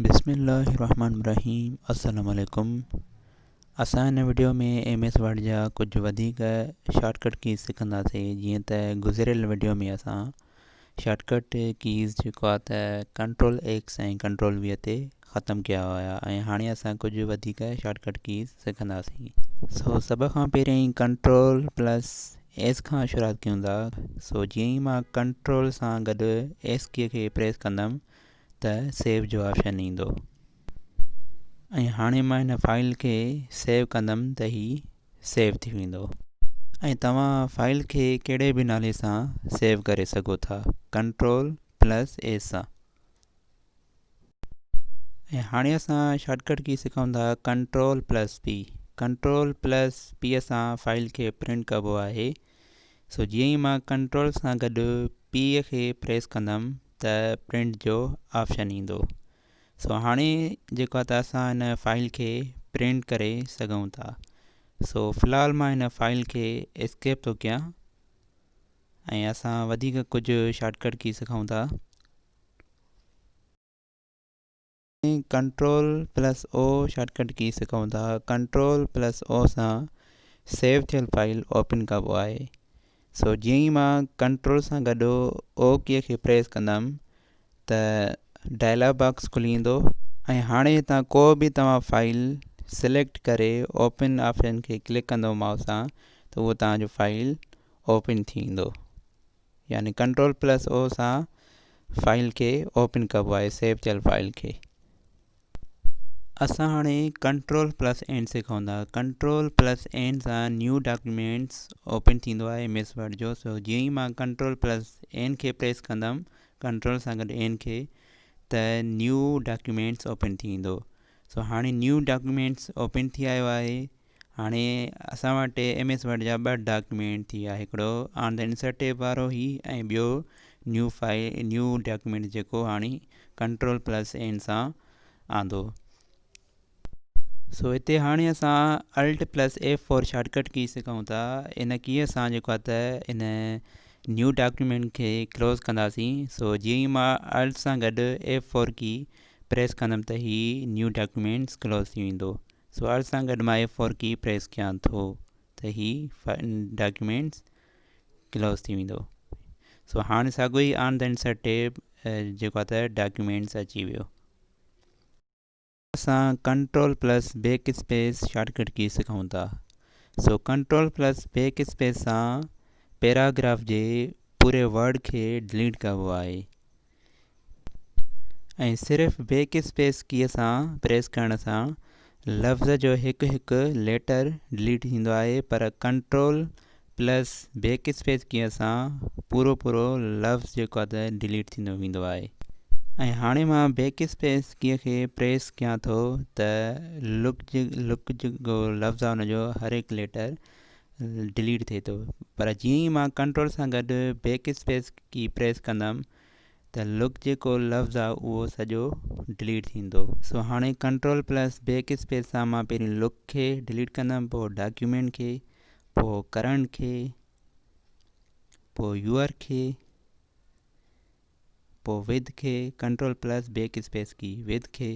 بسم الله الرحمن الرحيم السلام عليڪم اسان هن وڊيو ۾ ايم ايس ورڊ جا ڪجهه وڌيڪ شارٽ ڪٽ ڪيز سکنداسين جيئن ته گذريل وڊيو ۾ اسان شارٽ ڪٽ ڪيز جيڪو آهي ته ڪنٽرول ايڪس ۽ ڪنٽرول وي تي ختم ڪيا هيا ۽ هاڻي اسان ڪجهه وڌيڪ شارٽ ڪٽ ڪيز سکنداسين سو سڀ کان پهرين ڪنٽرول پلس ايس کان شروعات ڪيون ٿا سو جيئن ئي مان ڪنٽرول سان گڏ ايس ڪي کي پريس ڪندم ته سيو جو آپشن ايندو ۽ هاڻي مان هن فائل کي سيو ڪندم ته هي سيو ٿي ويندو ۽ توهان فائل کي ڪهڙي به نالي سان سيو ڪري سگهو ٿا ڪنٽرول پلس اي سان ۽ هاڻي اسان شارٽڪٽ ڪي سکون ٿا control plus P control plus P سان فائل کي پرنٽ ڪبو آهي سو جيئن ئي مان ڪنٽرول سان گڏ پي کي پريس ڪندم ته پرنٽ جو آپشن ايندو سو هاڻي جيڪو آهي ته اسان هن فائل کي پرنٽ ڪري سگهون ٿا سو في الحال مان هن فائل کي اسڪيپ ٿو ڪيان ۽ اسان وڌيڪ ڪجهه شارٽڪٽ ڪي سکون ٿا ۽ control plus O shortcut key سکون ٿا ڪنٽرول پلس او سان سيو ٿيل فائل اوپن ڪبو آهي سو جيئن ئي مان ڪنٽرول سان گڏ او ڪي کي پريس ڪندم ته ڊائلاگ باڪس کلي ويندو ۽ هاڻي هتان ڪو به توهان فائل سليڪٽ ڪري اوپن آپشن کي ڪلڪ ڪندو مائوس سان ته اهو توهان جو فائل اوپن ٿي ويندو يعني ڪنٽرول پلس او سان فائل کي اوپن ڪبو آهي سيو ٿيل فائل کي اسان هاڻي ڪنٽرول پلس اين سکون ٿا ڪنٽرول پلس اين سان نيو ڊاڪيومينٽس اوپن ٿيندو آهي ايم ايس ورڊ جو سو جيئن ئي مان ڪنٽرول پلس اين کي پريس ڪندم ڪنٽرول سان گڏ اين کي ته نيو ڊاڪيومينٽس اوپن ٿي ويندو سو هاڻي نيو ڊاڪيومينٽس اوپن ٿي آيو آهي هاڻي اسان وٽ ايم ايس ورڊ جا ٻه ڊاڪيومينٽ ٿي ويا هڪڙو آن دي انسرٽ ٽيب وارو هي ۽ ٻيو نيو فائل نيو ڊاڪيومينٽ جيڪو هاڻي ڪنٽرول پلس اين سان آندو سو هتي هاڻي اسان الٽ پلس ايف فور شارٽ ڪٽ ڪي سکون ٿا ان ڪي اسان جيڪو آ ته ان نيو ڊاڪيومينٽ کي ڪلوز ڪنداسين سو جي ئي مان الٽ سان گڏ ايف فور ڪي پريس ڪندم ته هي نيو ڊاڪيومينٽس ڪلوز ٿي ويندو سوال سان گڏ مان ايف فور ڪي پريس ڪيان ٿو ته هي ڊاڪيومينٽس ڪلوز ٿي ويندو سو هاڻي ساڳو ئي آن دين سر ٽيب جيڪو آهي ته ڊاڪيومينٽس اچي ويو اسان control plus backspace shortcut key سکون ٿا سو ڪنٽرول پلس بيڪ اسپيس سان پيراگراف جي پوري ورڊ کي ڊليٽ ڪبو آهي ۽ صرف بيڪ اسپيس ڪيء سان پريس ڪرڻ سان لفظ جو هڪ هڪ ليٽر ڊليٽ ٿيندو آهي پر control plus backspace key سان پورو پورو لفظ جيڪو آهي ته ڊليٽ ٿيندو ويندو آهي ۽ هاڻي مان بيڪ اسپيس ڪيء کي پريس ڪيان ٿو ته لڪ جيڪو لفظ آهي ان جو هر هڪ ليٽر ڊليٽ ٿئي ٿو پر جيئن ئي مان ڪنٽرول سان گڏ بيڪ اسپيس ڪي پريس ڪندم ته لڪ جيڪو لفظ آ اهو سڄو ڊليٽ ٿيندو سو هاڻي ڪنٽرول پلس بيڪ اسپيس سان مان پهرين لڪ کي ڊليٽ ڪندم پوء ڊاڪيومينٽ کي پوء ڪرنٽ کي پوء يوئر کي پوء وڌ کي control plus backspace key وڌ کي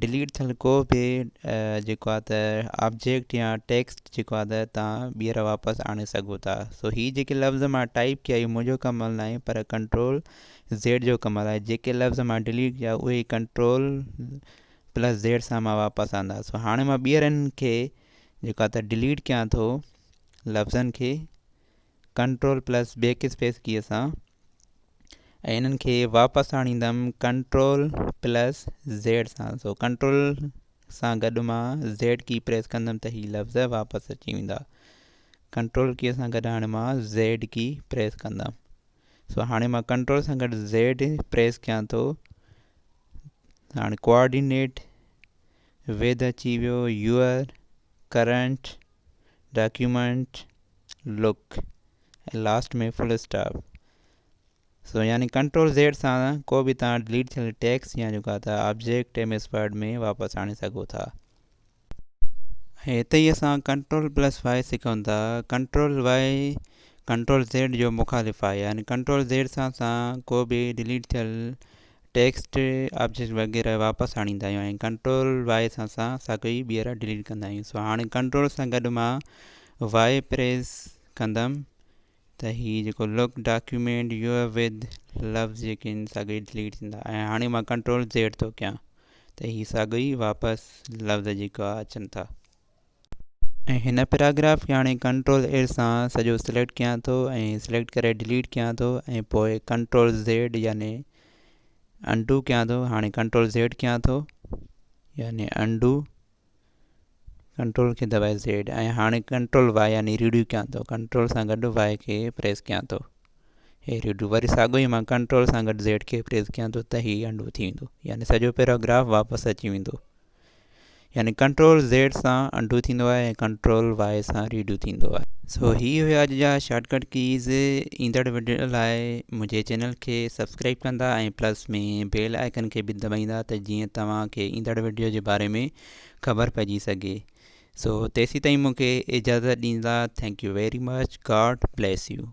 ڊليٽ ٿيل ڪو به جيڪو آهي ته آبجيڪٽ يا ٽيڪسٽ جيڪو آهي ته تان ٻيهر واپس آڻي سگهو ٿا سو هي جيڪي لفظ مان ٽائپ ڪيا هي منهنجو ڪمل نه آهي پر ڪنٽرول زيڊ جو ڪمل آهي جيڪي لفظ مان ڊليٽ ڪيا اهي ڪنٽرول پلس زيڊ سان مان واپس آندا سو هاڻي مان ٻيهر ان کي جيڪو آهي ته ڊليٽ ڪيان ٿو لفظن کي control plus backspace key سان ۽ انهن کي واپس آڻيندم ڪنٽرول پلس زيڊ سان سو ڪنٽرول سان گڏ مان زيڊ ڪي پريس ڪندم ته هي لفظ واپس اچي ويندا ڪنٽرول ڪيء سان گڏ هاڻي مان زيڊ ڪي پريس ڪندم سو هاڻي مان ڪنٽرول سان گڏ زيڊ پريس ڪيان ٿو هاڻي ڪوآرڊينيٽ ويد اچي ويو يور ڪرنٽ ڊاڪيومنٽ لڪ ۽ لاسٽ ۾ فل اسٽاپ سو يعني ڪنٽرول زيڊ سان ڪو به توهان ڊليٽ ٿيل ٽيڪس يا جيڪا ته آبجيڪٽ ايم ايس ورڊ ۾ واپس آڻي سگهو ٿا ۽ هتي ئي اسان ڪنٽرول پلس وائي سکون ٿا ڪنٽرول وائي ڪنٽرول زيڊ جو مخالف آهي يعني ڪنٽرول زيڊ سان سان ڪو به ڊليٽ ٿيل ٽيڪسٽ آبجيڪٽ وغيره واپس آڻيندا آهيون ۽ ڪنٽرول واء سان سان ساڳئي ٻيهر ڊليٽ ڪندا آهيون سو هاڻي ڪنٽرول سان گڏ مان واء پريس ڪندم ته هي جيڪو لوڪ ڊاڪيومينٽ يو ود لفظ جيڪي آهن ساڳئي ڊليٽ ٿيندا ۽ هاڻي مان ڪنٽرول زيڊ ٿو ڪيان ته هي ساڳئي واپس لفظ جيڪا اچن ٿا ۽ هن پيراگراف کي هاڻي ڪنٽرول اير سان سڄو سليڪٽ ڪيان ٿو ۽ سليڪٽ ڪري ڊليٽ ڪيان ٿو ۽ پوء ڪنٽرول زيڊ يعني انڊو ڪيان ٿو هاڻي ڪنٽرول زيڊ ڪيان ٿو يعني انڊو ڪنٽرول کي دٻائي زيڊ ۽ هاڻي ڪنٽرول واء يعني ريڊيو ڪيان ٿو ڪنٽرول سان گڏ واء کي پريس ڪيان ٿو هي ريڊيو وري ساڳو ئي مان ڪنٽرول سان گڏ زيڊ کي پريس ڪيان ٿو ته هي انڊو ٿي ويندو يعني سڄو پيراگراف واپس اچي ويندو يعني ڪنٽرول زيڊ سان انڊو ٿيندو آهي ۽ ڪنٽرول وائي سان ريڊو ٿيندو آهي سو هي هيا اڄ جا شارٽ ڪٽ ڪيز ايندڙ وڊيو لاء منهنجي چينل کي سبسڪرائب ڪندا ۽ پلس ۾ بيل آئڪن کي به دٻائيندا ته جيئن توهان کي ايندڙ وڊيو جي باري ۾ خبر پئجي سگهي سو تيسي تائين مونکي اجازت ڏيندا thank you very much God bless U